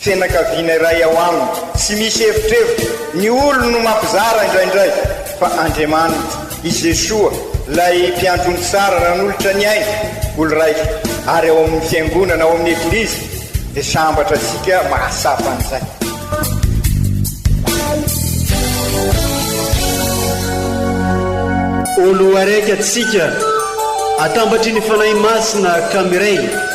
Fianakaviana iray ao aminy. Tsy misy evitrevitra, ny olony no mampizara indraindray, fa Andriamaniny, i Jesoa, ilay Mpiantony Tsara nanolotra ny ainy ho lraika, ary ao amin'ny Fiangonana, ao amin'ny Eglizy, dia sambatra antsika mahatsapa an'izay. Olo araiky atsika, atambatry ny Fanahy Masina ka miray.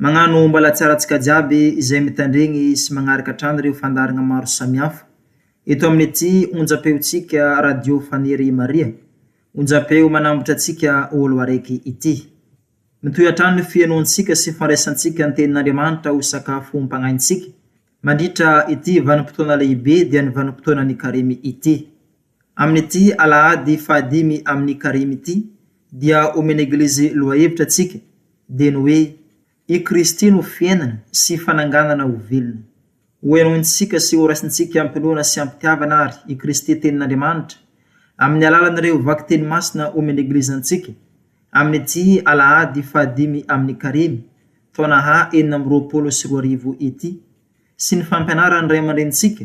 Magnano mbalatsara antsika jiaby izay mitandregny sy magnaraka hatrany reo fandaharagna maro samihafa eto aminy ty onjapeo tsika radio faniry maria onjapeo manambotra antsika olo araiky ity mitohy hatrany ny fienoantsika sy fandraisantsika ny tenin'andriamanitra ho sakafo mpagnaintsika mandritra ity vanimpotoana lehibe dia ny vanimpotoana ny karemy ity Amin'ity alahady fahadimy amin'ny karemy ity dia omen'ny Eglizy lohahevitra antsika dia ny hoe, I Kristy no fiainana sy fananganana ho velona. Hohenointsika sy horaisintsika am-pinoana sy am-pitiavana àry i Kristy Tenin'Andriamanitra amin'ny alalan'ireo vakiteny masina omen'ny Eglizy antsika amin'ity alahady fahadimy amin'ny karemy taona ha enina amby roapolo sy roa arivo ity sy ny fampianaran'ny Ray aman-drenintsika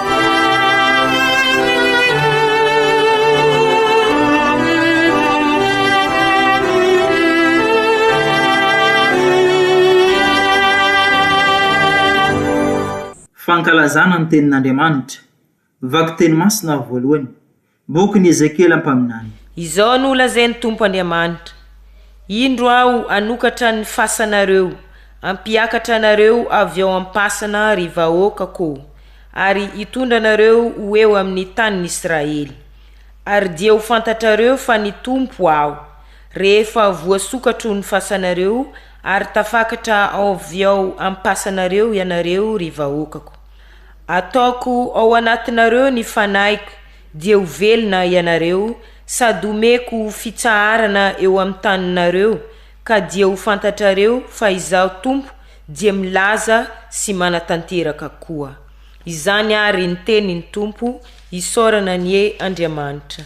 Fankalazana ny tenin'Andriamanitra. Vakiteny masina voalohany. Bokin'i Ezekiela mpaminany. Izao no lazain'ny Tompo Andriamanitra, Indro Aho hanokatra ny fasanareo, hampiakatra anareo avy ao am-pasana ry vahoakako ô, ary hitondra anareo ho eo amin'ny tanin'Israely. Ary dia ho fantatrareo fa ny Tompo Aho, rehefa voasokatro ny fasanareo ary tafakatra avy ao am-pasanareo ianareo ry vahoakako. Ataoko ao anatinareo ny fanahiko dia ho velona ianareo sady omeko fitsaharana eo amin'ny taninareo ka dia ho fantatrareo fa Izaho Tompo dia milaza sy manatanteraka koa. Izany àry ny tenin'ny Tompo, isaorana anie Andriamanitra.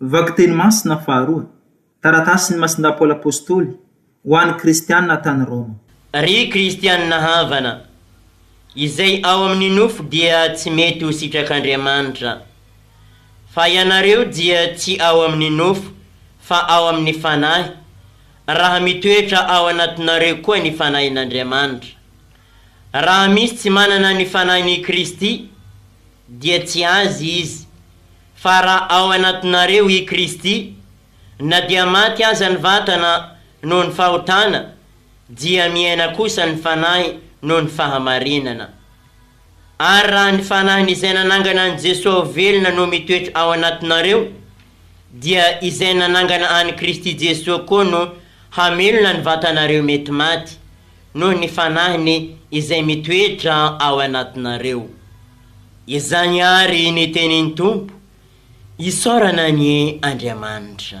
Vakiteny masina faharoa, Taratasin'i Masindà Paoly Apôstôly ho an'ny Kristianina tany Rôma. Ry Kristianina havana, izay ao amin'ny nofo dia tsy mety ho sitrak'Andriamanitra, fa ianareo dia tsy ao amin'ny nofo fa ao amin'ny Fanahy, raha mitoetra ao anatinareo koa ny Fanahin'Andriamanitra. Raha misy tsy manana ny Fanahin' i Kristy, dia tsy azy izy. Fa raha ao anatinareo i Kristy, na dia maty aza ny vatana noho ny fahotana, dia miaina kosa ny fanahy noho ny fahamarinana. Ary raha ny Fanahin' izay nanangana an'i Jesoa ho velona no mitoetra ao anatinareo, dia izay nanangana an'i Kristy Jesoa koa no hamelona ny vatanareo mety maty noho ny fanahiny izay mitoetra ao anatinareo. Izany àry ny tenin'ny Tompo, Isaorana anie Andriamanitra.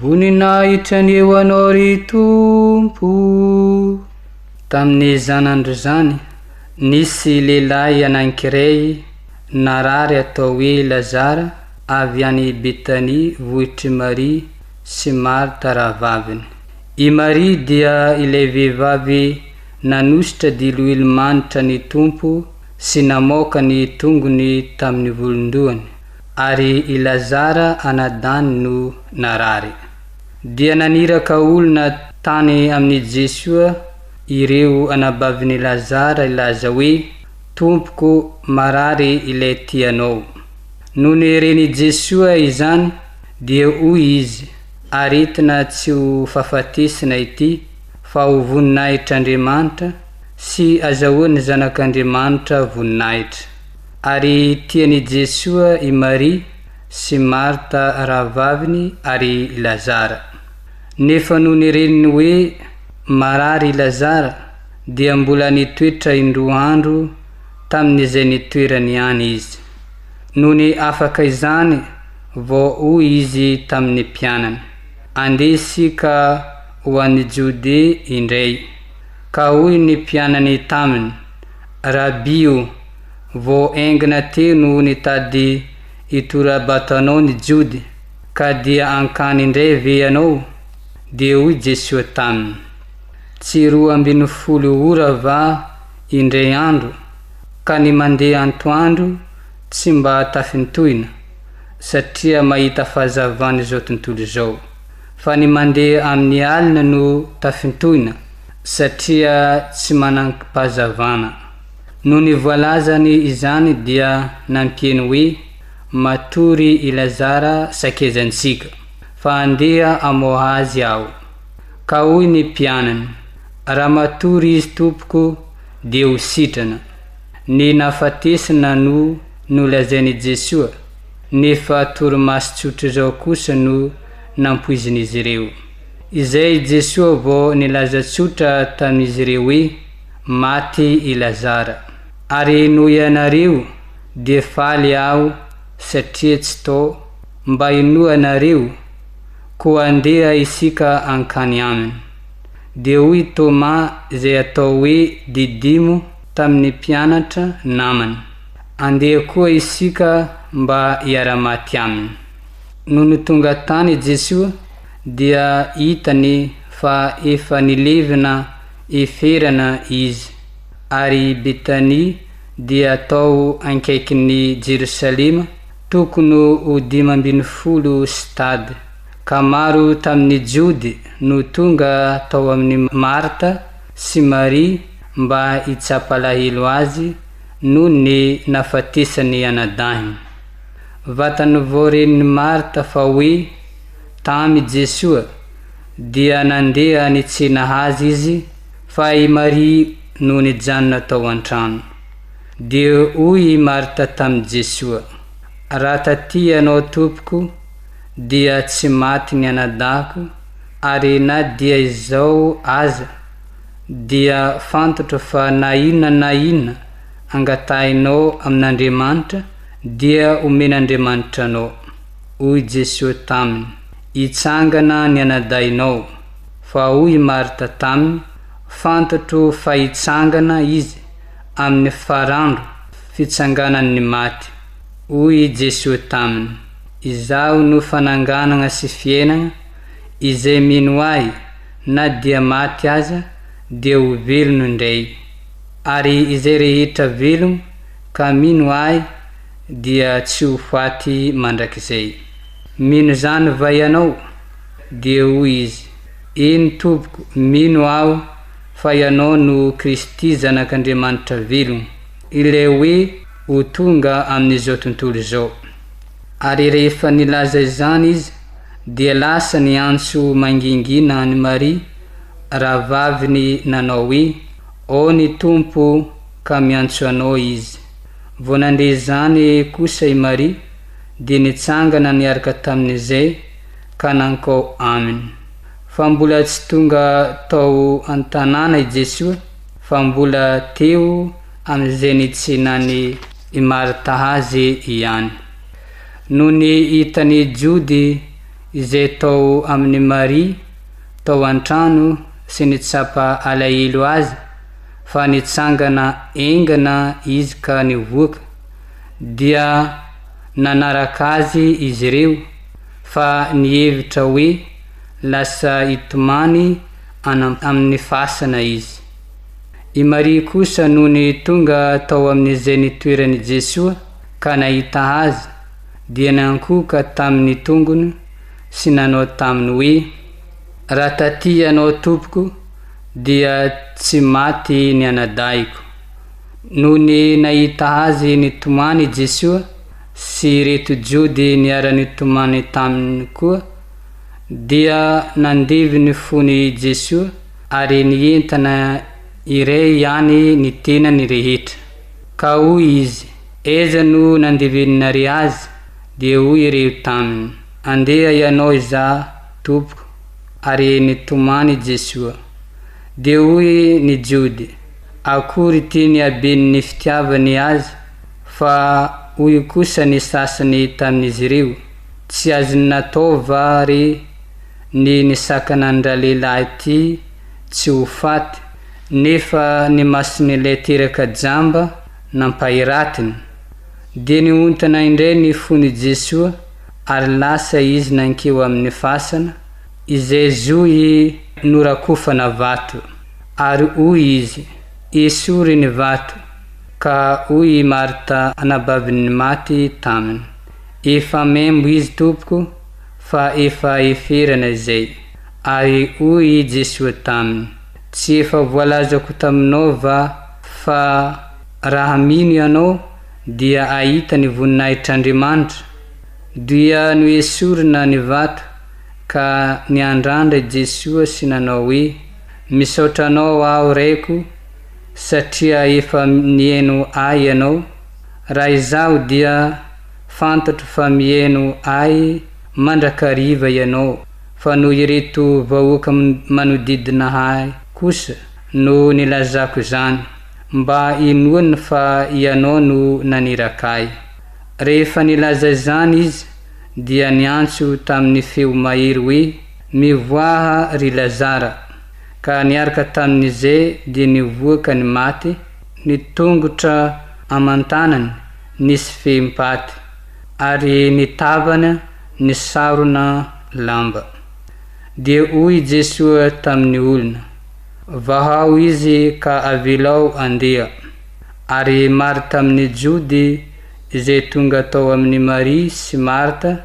Voninahitra ny ho Anao ry Tompo. Tamin'ny zanandrozany, nisy lehilahy anankiray narary atao hoe Lazara avy any Betania vohitr'i Maria sy Marta rahavaviny. I Maria dia ilay vehivavy nanosotra diloilo manitra ny Tompo sy namoaka ny tongony tamin'ny volon-dohany. Ary i Lazara ana Dany no narary. Dia naniraka olona tany amin'i Jesoa ireo anabavin'i Lazara hilaza hoe, Tompoko, marary ilay tianao. Nony ren'i Jesoa izany, dia hoy Izy, Aretina tsy ho fahafatesina ity, fa ho voninahitr'Andriamanitra, sy azahoan'ny Zanak'Andriamanitra voninahitra. Ary tian' i Jesoa i Maria sy Marta rahavaviny ary i Lazara. Nefa nony ireniny hoe marary i Lazara dia mbola nitoetra indroa andro tamin' izay nitoerany ihany izy. Nony afaka izany vao hoy izy tamin' ny mpianany, Andeha isika ho any Jodea indray. Ka hoy ny mpianany taminy, Rabi o! Vao haingana teo no nitady hitora-bato anao ny Jody, ka dia hankany indray ve ianao? Dia hoy Jesoa taminy, Tsy roa ambin'ny folo ora va indray andro, ka ny mandeha antoandro tsy mba tafintohina, satria mahita fahazavan'izao tontolo izao, fa ny mandeha amin'ny alina no tafintohina, satria tsy manan-pahazavana. Nony voalazany izany dia nanteny hoe, Matory i Lazara sakezantsika, fa andeha hamoha azy aho. Ka hoy ny mpianany, Raha matory izy Tompoko, dia ho sitrana. Ny nahafatesana no nolazain' i Jesoa, nefa torimaso tsotra izao kosa no nampoizin' izy ireo. Izay i Jesoa vao nilaza tsotra tamin' izy ireo hoe, Maty i Lazara. Ary noho ianareo dia faly aho satria tsy to mba hinoanareo, koa andeha isika hankany aminy. Dia hoy Toma izay atao hoe Didimo tamin'ny mpianatra namany, Andeha koa isika mba hiara-maty aminy. Nony tonga tany Jesoa dia hitany fa efa nilevina Eferana izy, ary i Betania dia tao ankaikin'i Jerosalema, tokony ho dimy ambin'ny folo stade, ka maro tamin'ny Jody no tonga tao amin'i Marta sy Maria mba hitsapa alahelo azy noho ny nahafatesan'ny anadahiny. Vatany vao renin'i Marta fa hoe tamy i Jesoa Dia nandeha any Tsinahaja izy fa i Maria no nijanona tao an-trano. Dia hoy i Marta tamin'i Jesoa, Raha taty Ianao Tompoko, dia tsy maty ny anadahiko, ary na dia izao aza, dia fantatra fa na inona na inona angatahinao amin'Andriamanitra, dia omen'Andriamanitra anao. Hoy Jesoa taminy, Hitsangana ny anadahinao. Fa hoy i Marta taminy, Fantatro fa hitsangana Izy amin'ny farandro fitsanganan' ny maty. Hoy i Jesoa taminy, Izaho no fananganagna sy fiainagna, izay mino Ahy, na dia maty aza, dia ho velono indray. Ary izay rehetra velogno ka mino Ahy dia tsy ho faty mandrakizay. Mino izany va ianao? Dia hoy izy, Eny tompoko, mino aho fa ianao no Kristy Zanak'Andriamanitra velona, ilay hoe ho tonga amin'izao tontolo izao. Ary rehefa nilaza izany izy, dia lasa niantso mangingina an'i Maria, rahavaviny nanao hoe, Ao ny Tompo ka miantso anao Izy. Vao nandre izany kosa i Maria, dia nitsangana niaraka tamin'izay ka nankao aminy. Fa mbola tsy tonga tao an-tanàna i Jesoa fa mbola teo amin'izay nitsinany i Marta azy ihany. Nony hitan'i Jody izay tao amin'i Maria tao an-trano sy nitsapa alahelo azy fa nitsangana engana izy ka nivoaka, dia nanaraka azy izy ireo fa nihevitra hoe lasa hitomany any amin'ny fasana izy. I Maria kosa nony tonga tao amin'izay nitoeran'i Jesoa ka nahita Azy dia nankohoka tamin'ny tongony sy nanao taminy hoe, Raha taty Ianao Tompoko dia tsy maty ny anadahiko. Nony nahita azy nitomany i Jesoa sy ireto Jody niara-nitomany taminy koa, dia nandevo ny fony i Jesoa ary nientana irery ihany ny tenany rehetra. Ka hoy Izy, Aiza no nandeveninare azy? Dia hoy ireo taminy, Andeha ianao izaho, Tompoko, ary nitomany i Jesoa. Dia hoy ny Jody, Akory ity ny haben'ny fitiavany azy fa hoy kosa ny sasany tamin'izy ireo, Tsy azony natao va re ny nisakana an-dralehilahy ity tsy ho faty, nefa ny mason'ilay teraka jamba nampahiratiny? Dia niontana indray ny fon'i Jesoa ary lasa izy nankeo amin'ny fasana, izay zohy norakofana vato. Ary hoy izy, Esory ny vato. Ka hoy i Marta anabavin'ny maty taminy, Efa membo izy Tompoko, fa efa eferana izay. Ary hoy i Jesoa taminy, Tsy efa voalazako taminao va fa raha mino ianao dia ahita ny voninahitr'Andriamanitra? Dia noesorina ny vato, ka niandrandra i Jesoa sy nanao hoe, Misaotra anao aho reko satria efa nieno ahy ianao, raha izaho dia fantatro fa mieno ahy mandrakariva ianao fa noho ireto vahoaka manodidina ahy kosa no nilazako izany mba inoany fa ianao no naniraka ahy. Rehefa nilaza izany izy dia niantso tamin'ny feo mahery hoe. Nivoaha ry Lazara, ka niaraka tamin'ize dia nivoa ka ny maty, ny tongotra aman-tanany nisy fehim-paty, ary ny tavana nisarona lamba. Dia hoy i Jesoa tamin'ny olona, Vahao izy ka avelao andeha. Ary maro tamin'ny Jody izay tonga tao amin'i Maria sy Marta,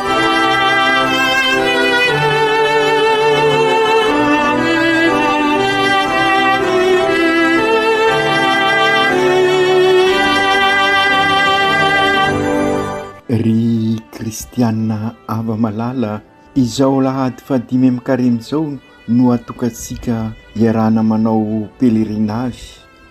Kristianina ava malala izao lahady fadimy amin'ny karemy izao no hatokantsika iarahana manao pèlerinage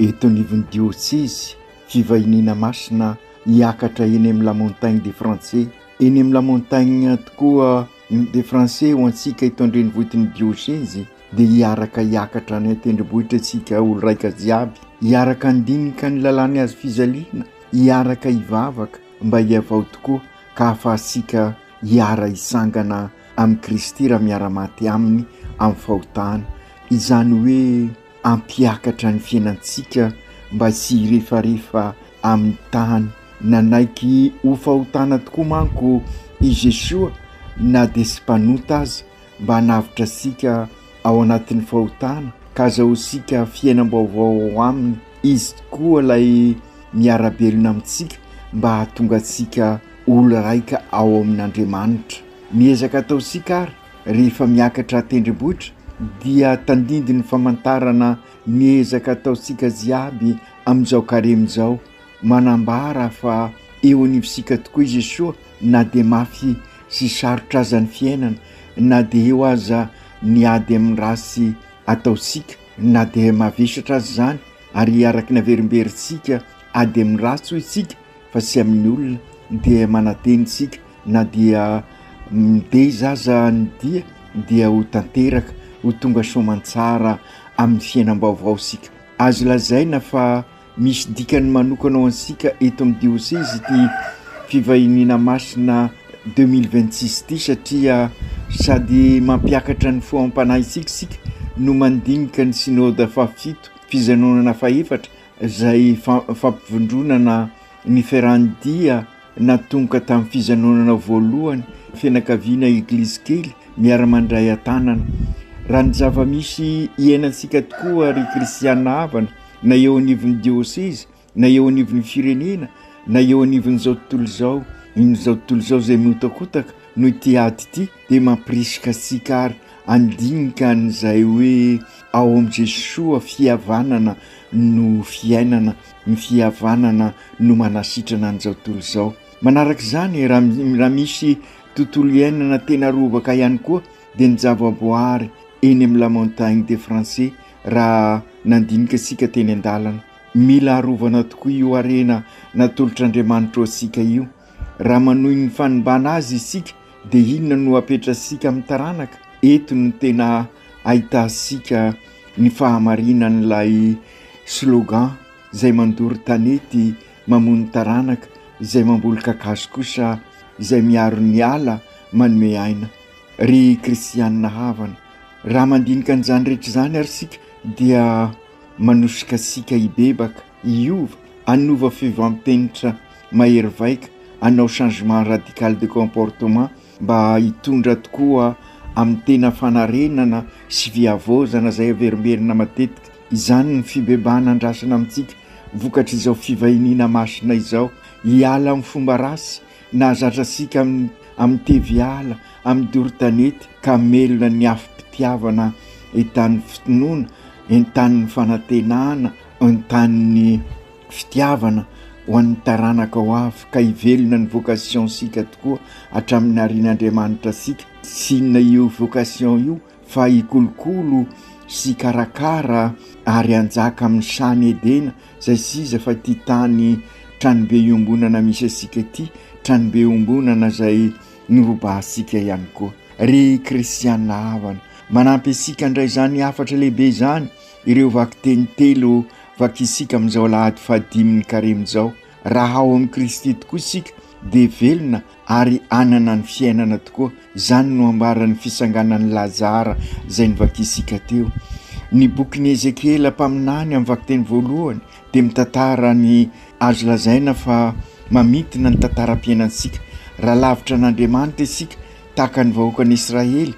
eto anivon'ny dioseza fivahiniana masina hiakatra eny amin'ny la montagne des français Eny amin'ny la montagne tokoa ny de français ho antsika eto an-drenivohitin'ny diôsezy dia hiaraka hiakatra any an-tendrombohitra isika olo-raika jiaby, hiaraka handinika ny lalàn'i hazo fijaliana, hiaraka hivavaka mba hihavao tokoa ka hahafahantsika hiara-hisangana amin'i Kristy raha miara-maty Aminy amin'ny fahotana, izany hoe hampiakatra ny fiainantsika mba tsy hirefarefa amin'ny tany. Nanaiky ho fahotana tokoa manko i Jeshoa na dia tsy mpanota aza, mba hanavotra antsika ao anatin'ny fahotana ka hazahoantsika fiainam-baovao ao aminy. Izy tokoa ilay miara-belona amintsika mba hahatonga antsika olo-raika ao amin'Andriamanitra. Miezaka ataontsika àry, rehefa miakatra an-tendrombohitra, dia tandindon'ny famantarana ny ezaka ataontsika jiaby amin'izao karemy izao, manambara fa eo anivontsika tokoa i Jesoa na dia mafy sy sarotra aza ny fiainana, na dia eo aza ny ady amin'ny ratsy ataontsika, na dia mavesatra aza izany, ary araka ny haverimberintsika ady amin'ny ratsy hoy isika, fa tsy amin'ny olona dia manantena isika na dia mitaiza aza ny dia dia ho tanteraka ho tonga soamantsara amin'ny fiainam-baovao isika. Azo lazaina fa misy dikany manokana ho antsika eto amin'ny diosezy ity fivahiniana masina deux mille vingt six ity satria sady mampiakatra ny foham-panahintsika isika no mandinika ny synoda fahafito, fijanonana fahefatra, izay fampivondronana niferan'ny dia natomboka tamin'ny fijanonana voalohany fianakaviana Eglizy kely miara-mandray an-tanana. Raha ny zava-misy iainantsika tokoa ry kristiana havana, na eo anivon'ny diôsezy, na eo anivon'ny firenena, na eo anivon'izao tontolo izao, iny izao tontolo izao izay mihotakotaka noho ity ady ity, dia mampirisika antsika àry handinika an'izay hoe ao amin'i Jesoa fihavanana no fiainana, ny fihavanana no manasitrana an'izao tontolo izao. Manaraka izany, raha misy tontolo iainana tena rovaka ihany koa, dia ny zavaboary eny amin'ny La Montagne des Français, raha nandinika antsika teny an-dalana. Mila arovana tokoa io harena natolotr'Andriamanitra ho antsika io. Raha manohy ny fanimbana azy isika dia inona no hapetratsika amin'ny taranaka? Eto no tena ahitantsika ny fahamarinan'ilay slogan izay mandoro tanety mamono taranaka, izay mamboly kakazo kosa izay miaro ny ala manome aina. Ry kristianina havana, raha mandinika an'izany rehetra izany ary isika dia manosika antsika hibebaka. hiova, hanova fiovampenitra mahery vaika, hanao changement radical de comportement mba hitondra tokoa amin'ny tena fanarenana sy fihavaozana izay averimberina matetika. Izany ny fibebahana andrasana amintsika vokatr'izao fivahiniana masina izao, hiala amin'ny fomba ratsy nahazatra antsika amin'ny teviala, amin'ny doro tanety ka hamelona ny afom-pitiavana entanin'ny finoana, entanin'ny fanantenana. Entan'ny fitiavana ho an'ny taranaka ho avy ka hivelona ny vocation-sika tokoa hatramin'ny naharian'Andriamanitra sika. Tsy inona io vocation io fa hikolokolo sy hikarakara ary hanjaka amin'ny Shany Edena izay s'iza fa ity tany tranobe iombonana misy antsika ity, tranobe iombonana izay norobahantsika ihany koa. Ry Kristiana havana, manampy antsika handray izany hafatra lehibe izany Ireo vakiteny telo vakiantsika amin'izao alahady fahadimin'ny karemy izao, Raha ao amin'i Kristy tokoa isika, dia velona ary hanana ny fiainana tokoa. Izany no ambaran'ny fisanganan'i Lazara izay novakiantsika teo. Ny bokin'i Ezekiela mpaminany amin'ny vakiteny voalohany dia mitantara ny azo lazaina fa mamintina ny tantaram-piainantsika. Raha lavitra an'Andriamanitra isika, Tahaka ny vahoakan'Israely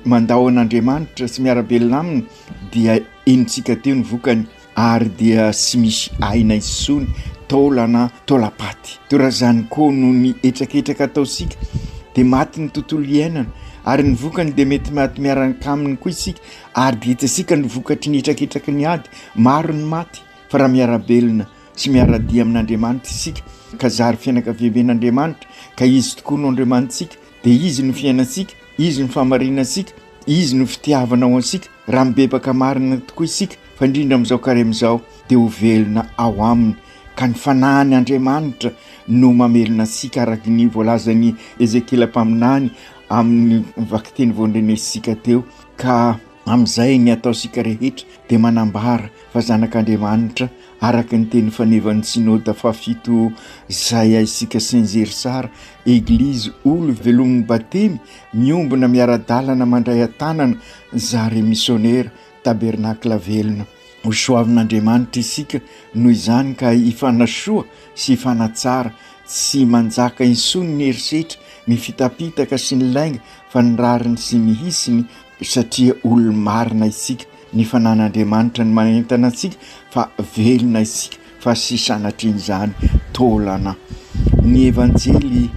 mandao an'Andriamanitra sy miara-belona Aminy, dia henontsika teo ny vokany, ary dia tsy misy aina intsony, taolana, taolam-paty. Toa raha izany koa no ny hetraketraka ataontsika, dia maty ny tontolo iainana, ary ny vokany dia mety maty miaraka aminy koa isika, ary dia hitantsika ny vokatry ny hetraketraky ny ady, maro ny maty, fa raha miara-belona Tsy miara-dia amin'Andriamanitra isika ka zary fianakaviamben'Andriamanitra ka Izy tokoa no Andriamanitsika dia Izy no fiainantsika, Izy no fahamarinantsika, Izy no fitiavana ho antsika, raha mibebaka marina tokoa isika fa indrindra amin'izao karemy izao dia ho velona ao Aminy ka ny Fanahiny Andriamanitra no mamelona antsika araka ny voalazan'i Ezekiela mpaminany amin'ny vakiteny vao nrenesitsika teo ka amin'izay ny ataontsika rehetra dia manambara fa zanak'Andriamanitra araka ny teny fanevan'ny Synoda fahafito izay haisika Saint-Zery Sara, Eglizy Olo velomin'ny Batemy miombona miara-dalana mandray an-tanana zary misionera, Tabernakla velona. Ho soavin'Andriamanitra isika noho izany ka hifanasoa sy hifanatsara, tsy manjaka intsony ny herisetra, ny fitapitaka sy ny lainga fa ny rariny sy ny hisiny satria olo-marina isika. ny fanan'Andriamanitra ny manentana antsika fa velona isika fa tsy sanatrian'izany taolana. Ny evanjely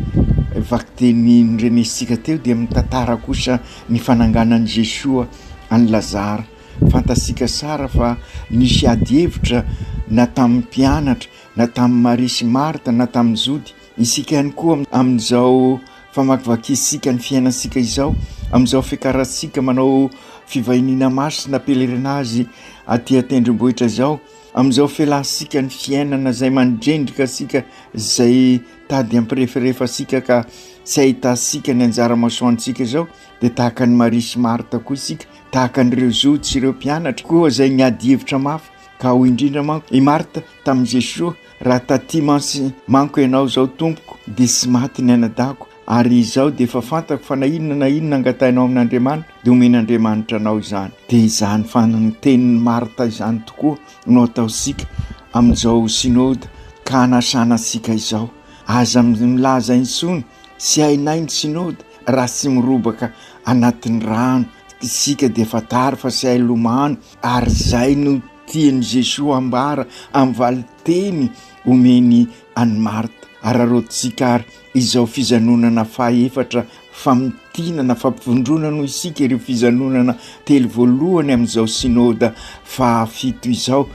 vakiteny norenesintsika teo dia mitantara kosa ny fananganan'i Jesoa an'i Lazara. Fantatsika sara fa nisy ady hevitra na tamin'ny mpianatra na tamin'i Maria sy Marta na tamin'ny Jody. Isika ihany koa amin'izao famakivakiantsika ny fiainantsika izao, amin'izao fiakarantsika manao fivahiniana masina pèlerinage aty an-tendrombohitra izao, amin'izao fialantsika ny fiainana izay mandrendrika antsika, izay tady hampirefarefa antsika ka tsy ahitantsika ny anjara masoandrontsika izao dia tahaka an'i Maria sy Marta koa isika, tahaka an'ireo zohy sy ireo mpianatra koa izay niady hevitra mafy ka hoy indrindra manko i Marta tamin'i Jesoa. Raha taty mantsy manko ianao izao tompoko dia tsy maty ny anadahiko ary izaho dia efa fantako fa na inona na inona angatahinao amin'Andriamanitra dia omen'Andriamanitra anao izany. Dia izany fantenin'i Martha izany tokoa no ataontsika amin'izao Synode ka anasana antsika izao. Aza milaza intsony tsy hainay ny Synode raha tsy mirobaka anatin'ny rano isika dia fantaro fa tsy hay lomano Ary izay no tian'i Jesoa hambara amin'ny valin-teny omeny an'i Marta. Araraotintsika àry izao fijanonana fahaefatra, famintinana, fampivondronana hoy isika ireo fijanonana telo voalohany amin'izao Synoda fahafito izao,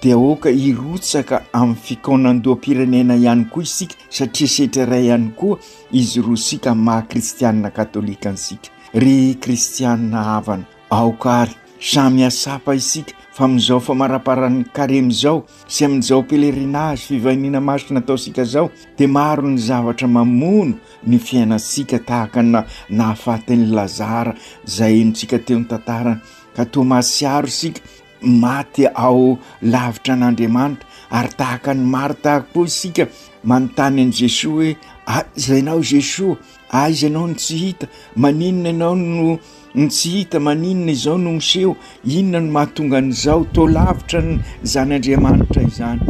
dia aoka hirotsaka amin'ny fikaonandoham-pirenena ihany koa isika satria setra iray ihany koa izy roa sika maha kristianina katolika antsika. Ry kristianina havana! Aoka ary samy hiatsapa isika fa amin'izao famaraparan'ny Karemy izao sy amin'izao pèlerinage fivahiniana masina ataontsika izao dia maro ny zavatra mamono ny fiainantsika tahaka ny nahafatin'i Lazara izay henontsika teo ny tantarany ka toa mahatsiaro isika Maty ao lavitra an'Andriamanitra, ary tahaka ny Marta koa isika, manontany an'i Jesoa hoe, Aiza Ianao Jesoa? Aiza Ianao no tsy hita? Maninona Ianao no no tsy hita? Maninona izao no miseho? Inona no mahatonga an'izao? Toa lavitra ny Zan'Andriamanitra izany.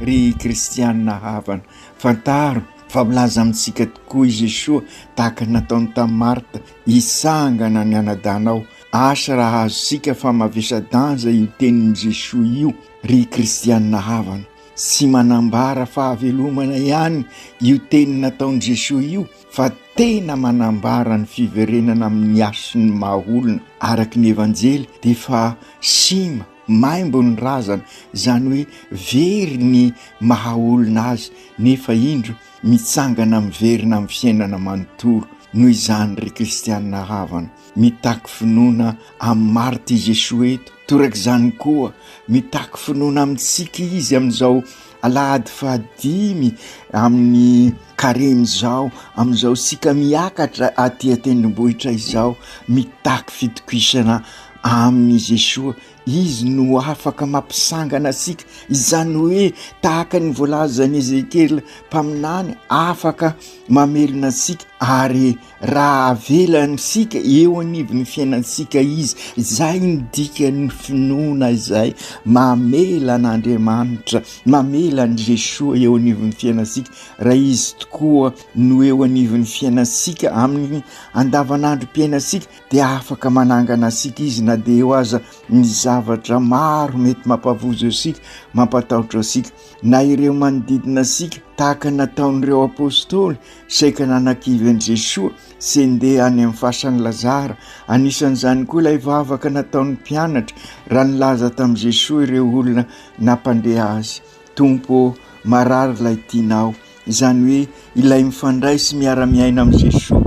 Ry kristiana havana, fantaro fa milaza amintsika tokoa i Jesoa, tahaka ny nataony tamin'i Marta, Hitsangana ny anadahinao. Asa raha azontsika fa mavesa-danja io tenin'i Jesoa io, ry kristiana havana. Tsy manambara fahavelomana ihany io teny nataon'i Jesoa io fa tena manambara ny fiverenana amin'ny hasin'ny maha-olona araka ny Evanjely dia efa sima, maimbo ny razana, izany hoe very ny maha-olona azy nefa indro mitsangana miverina amin'ny fiainana manontolo. Noho izany, ry kristiana havana. Mitaky finoana amin'ny Marta i Jesoa eto. Toraka izany koa, mitaky finoana amintsika Izy amin'izao alahady fahadimy amin'ny Karemy izao, amin'izao isika miakatra aty an-tendrombohitra izao, mitaky fitokisana amin'i Jesoa. Izy no afaka mampisangana antsika, izany hoe tahaka ny voalazan'i Ezekiela mpaminany, afaka mamelona antsika ary Raha avelantsika eo anivon'ny fiainantsika izy, izay no dikan'ny finoana izay mamela an'Andriamanitra, mamela an'i Jesoa eo anivon'ny fiainantsika. Raha Izy tokoa no eo anivon'ny fiainantsika amin'ny andavanandrom-piainantsika dia afaka manangana antsika Izy na dia eo aza ny zavatra maro mety mampavozo antsika, mampatahotra antsika. Na ireo manodidina antsika, tahaka ny nataon'ireo Apostoly, Saika nanakivy an'i Jesoa sy ndeha any amin'ny fasan'i Lazara. Anisan'izany koa ilay vavaka nataon'ny mpianatra raha nilaza tamin'i Jesoa ireo olona nampandeha azy. Tompo ô, marary ilay tianao. Izany hoe ilay mifandray sy miara-miaina amin'i Jesoa.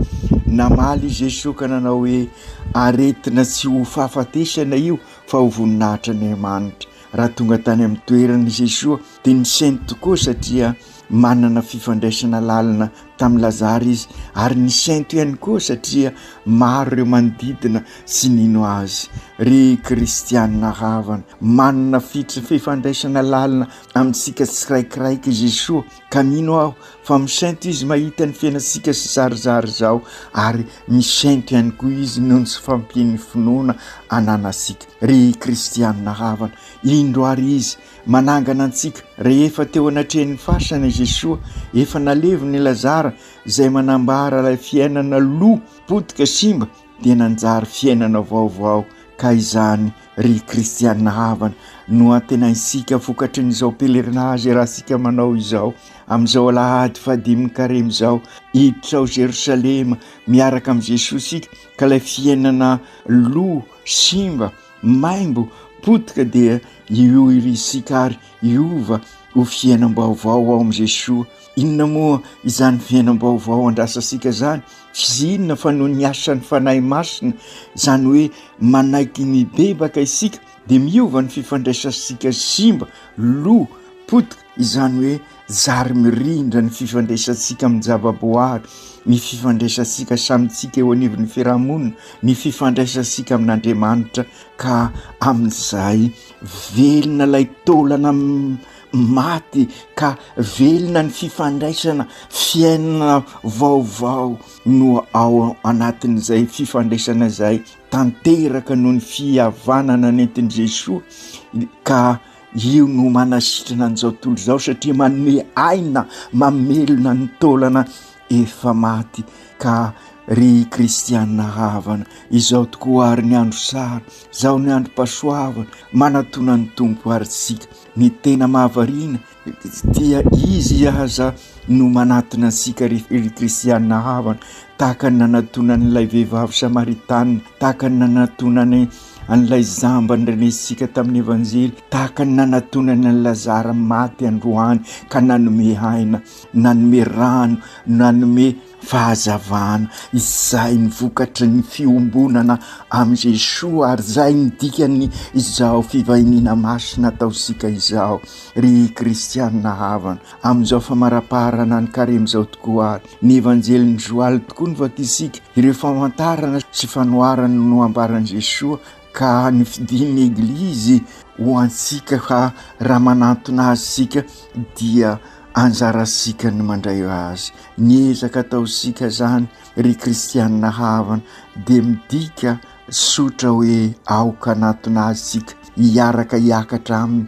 Namaly i Jesoa ka nanao hoe, Aretina tsy ho fahafatesana io fa ho voninahitr'Andriamanitra. Raha tonga tany amin'ny toerana i Jesoa dia nisainy tokoa satria manana fifandraisana lalina tamin'i Lazara izy ary nisainto ihany koa satria maro ireo manodidina sy nino azy. Ry kristianina havana, manana fifandraisana lalina amintsika tsiraikiraiky i Jesoa ka mino aho fa misainto izy mahita ny fiainantsika sy zarizary izao ary misainto ihany koa izy noho ny fampian'ny finoana ananantsika. Ry kristianina havana, indro ary izy Manangana antsika. Rehefa teo anatrehan'ny fasana i Jesoa, efa nalevina i Lazara, izay manambara ilay fiainana lo, potika, simba, dia nanjary fiainana vaovao. Ka izany, ry kristiana havana, no antenaintsika vokatry ny izao pèlerinage iarahantsika manao izao, amin'izao alahady fahadimin'ny karemy izao. Hiditra ao Jerosalema miaraka amin'i Jesoa isika, ka ilay fiainana lo, simba, Maimbo potika dia io iry isika ary hiova ho fiainam-baovao ao amin'i Jesoa. Inona moa izany fiainam-baovao andrasantsika izany? Tsy inona fa noho ny asan'ny Fanahy Masina, izany hoe manaiky mibebaka isika dia miova ny fifandraisantsika simba, lo, potika, izany hoe zary mirindra ny fifandraisantsika amin'ny zavaboary, ny fifandraisantsika samintsika eo anivon'ny fiarahamonina, ny fifandraisantsika amin'Andriamanitra ka amin'izay velona ilay taolana maty ka velona ny fifandraisana, fiainana vaovao no ao anatin'izay fifandraisana izay tanteraka noho ny fihavanana nentin'i Jesoa ka. Io no manasitrana an'izao tontolo izao satria manome aina, mamelona ny taolana efa maty ka ry kristianina havana, izao tokoa ary ny andro sara, izao ny androm-pahasoavana, manatona ny Tompo ary isika. Ny tena mahavariana dia Izy aza no manatona antsika ry kristianina havana, tahaka ny nanatona an'ilay vehivavy samaritana, tahaka ny nanatona an'i an'ilay zamba nirainesika tamin'ny Evanjely, tahaka ny nanatonany an'i Lazara maty androany ka nanome aina, nanome rano, nanome fahazavana. Izay ny vokatry ny fiombonana amin'i Jesoa ary izay ny dikan'ny izao fivahiniana masina ataontsika izao ry kristianina havana. Amin'izao famarapaharana ny Karemy izao tokoa ary ny Evanjelin'i Joaly tokoa no vakisika ireo famantarana sy fanoharana noambaran'i Jesoa ka ny fidin'ny Eglizy ho antsika ka raha manantona azy isika dia anjarantsika ny mandray azy. Ny ezaka ataontsika izany ry Kristianina havana dia midika sotra hoe aoka hanantona azy isika hiaraka hiakatra aminy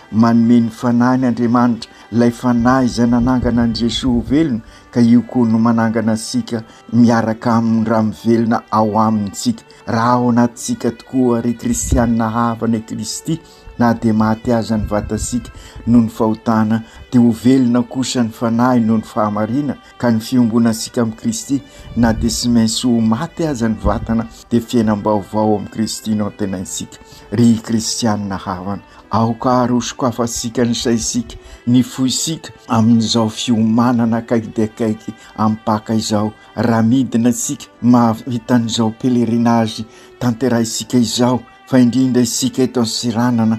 Manome ny Fanahiny Andriamanitra, ilay Fanahy izay nanangana an'i Jesoa ho velona, ka io koa no manangana antsika miaraka aminy raha mivelona ao aminy isika. Raha ao anatintsika tokoa, ry kristianina havana i Kristy, na dia maty aza ny vatantsika noho ny fahotana, dia ho velona kosa ny Fanahiny noho ny fahamariana, ka ny fiombonantsika amin'i Kristy na dia tsy maintsy ho maty aza ny vatana dia fiainam-baovao amin'i Kristy no antenaintsika. Ry kristianina havana, aoka ary ho sokafantsika ny saintsika, ny fointsika amin'izao fiomanana akaiky dia akaiky amin'ny Paka izao, raha midina isika mahavita an'izao pèlerinage tanterahintsika izao fa indrindra isika eto Antsiranana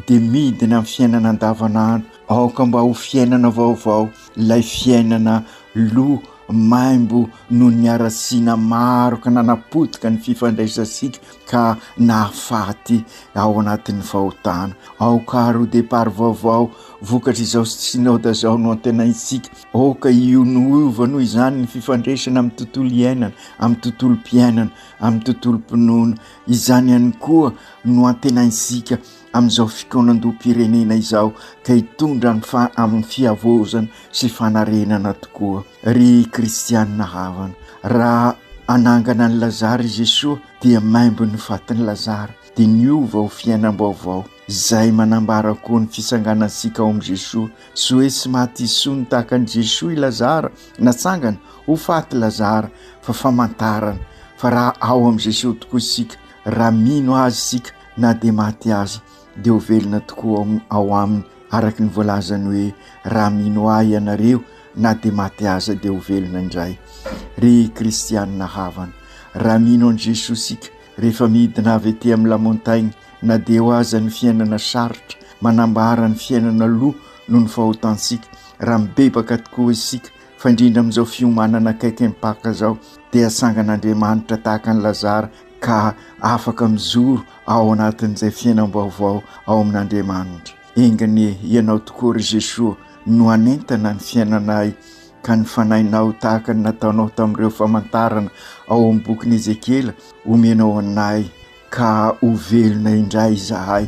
dia midina amin'ny fiainana andavanandro Aoka mba ho fiainana vaovao ilay fiainana loa maimbo noho ny haratsiana maro ka nanapotika ny fifandraisantsika ka nahafaty ao anatin'ny fahotana. Aoka ary ho départ vaovao vokatr'izao Synode izao no antenaintsika. Aoka hionoiova noho izany ny fifandraisana amin'ny tontolo iainana, amin'ny tontolom-piainana, amin'ny tontolom-pinoana. Izany ihany koa no antenaintsika. amin'izao fikaonandoham-pirenena izao ka hitondra ny fa amin'ny fihavaozana sy fanarenana tokoa ry kristianina havana raha anangana ny lazara i Jesoa dia maimbo ny fatin'i lazara dia niova ho fiainam-baovao izay manambara koa ny fitsanganantsika ao amin'i Jesoa sy hoe tsy maty isony tahaka an'i Jesoa i lazara natsangana ho faty lazara fa famantarana fa raha ao amin'i Jesoa tokoa isika raha mino azy isika na dia maty aza dia ho velona tokoa ao aminy araka ny voalazany hoe raha mino ahy ianareo na dia maty aza dia ho velona indray ry kristianina havana raha mino an'i Jesoa isika rehefa midina avy ety amin'ny lamontainy na dia eo aza ny fiainana sarotra manambara ny fiainana aloha noho ny fahotantsika raha mibebaka tokoa isika fa indrindra amin'izao fiomanana akaiky mpaka izao dia sangan'Andriamanitra tahaka ny Lazara ka afaka mijoro ao anatin'izay fiainam-baovao ao amin'Andriamanitra. Enganie ianao tokoa ry Jesoa no hanentana ny fiainanay ka ny fanahinao tahaka ny nataonao tamin'ireo famantarana ao amin'ny bokin'i Ezekiela omenao anay ka ho velona indray izahay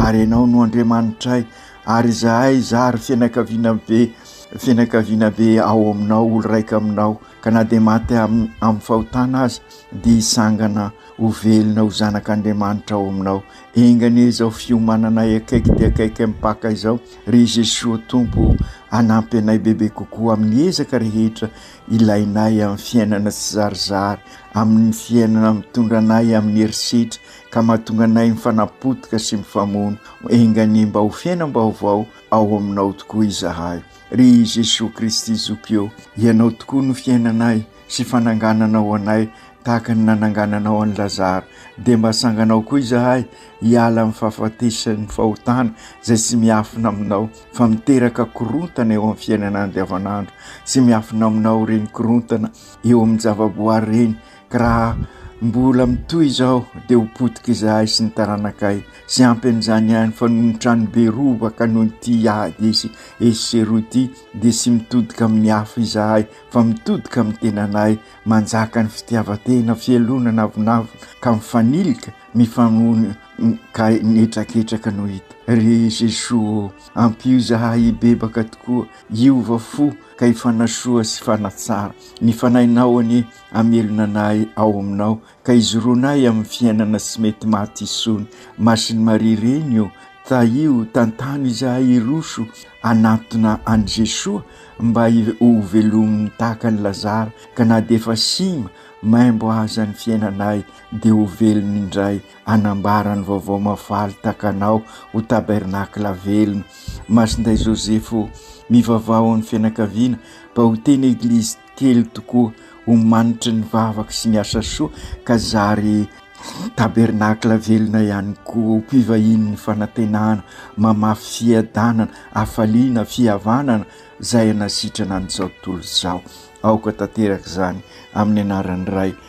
ary ianao no Andriamanitray ary izahay zary fianakaviana be fianakaviana be ao aminao olo-raika aminao ka na dia maty amin'ny fahotana aza dia hisangana ho velona ho zanak'Andriamanitra ao aminao. Enga anie izao fiomananay akaiky dia akaiky mpaka izao, ry Jesoa Tompo, hanampy anay bebe kokoa amin'ny ezaka rehetra ilainay amin'ny fiainana tsizarizary, amin'ny fiainana mitondra anay amin'ny herisetra ka mahatonga anay mifanapotika sy mifamono. Enga anie mba ho fiainam-baovao ao aminao tokoa izahay. Ry Jesoa Kristy Zoky ô, Ianao tokoa no fiainanay. sy fanangananao anay tahaka ny nanangananao an'i Lazara, dia mba sanganao koa izahay hiala amin'ny fahafatesan'ny fahotana izay tsy miafina aminao fa miteraka korontana eo amin'ny fiainana andavanandro, tsy miafina aminao ireny korontana eo amin'ny javaboary ireny, ka raha mbola mitohy izao dia ho potika izahay sy ny taranakay, tsy ampy an'izany ihany fa noho ny tranobe robaka noho ity ady esy sy eroa ity, dia sy mitodika amin'ny hafa izahay fa mitodika amin'ny tenanay, manjaka ny fitiavan-tena, fialonana avonavona ka mifanilika, mifanohana ka mihetraketraka no hita. Ry Jesoa ô! Ampio izahay hibebaka tokoa, hiova fo ka hifanasoa sy hifanatsara. Ny Fanahinao anie hamelona anay ao Aminao ka izoronay amin'ny fiainana sy mety maty isony masin'i maria reny o tahio tantano izahay iroso anatona any jesoa mba ho velomin'ny tahaka ny lazara ka na dia efa sima maimbo aza ny fiainanay dia ho velona indray anambara ny vaovao mafaly takanao ho tabernakla velona masinday joseph o mivavaho amin'ny fianakaviana mba ho teny eglizy Telo tokoa ho manitry ny vavaka sy ny asa soa ka zary tabernakla velona ihany koa ho mpivahinin'ny fanantenana, mamafy fiadanana, hafaliana, fihavanana izay hanasitrana an'izao tontolo izao. Aoka tanteraka izany amin'ny anaran'ny Ray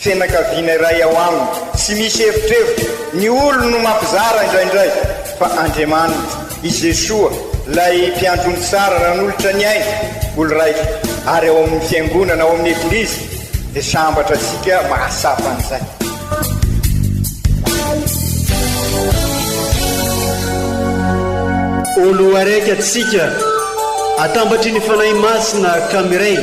Fianakaviana iray ao aminy. Tsy misy evitrevitra. Ny olony no mampizara indraindray. Fa Andriamaniny. I Jesoa, ilay Mpiandry ny tsara nanolotra ny ainy, olon-raiko. Ary ao amin'ny Fiangonana, ao amin'ny Eglizy, dia sambatra antsika mahatsapa an'izay. Olo araiky atsika, atambatry ny Fanahy Masina ka miray.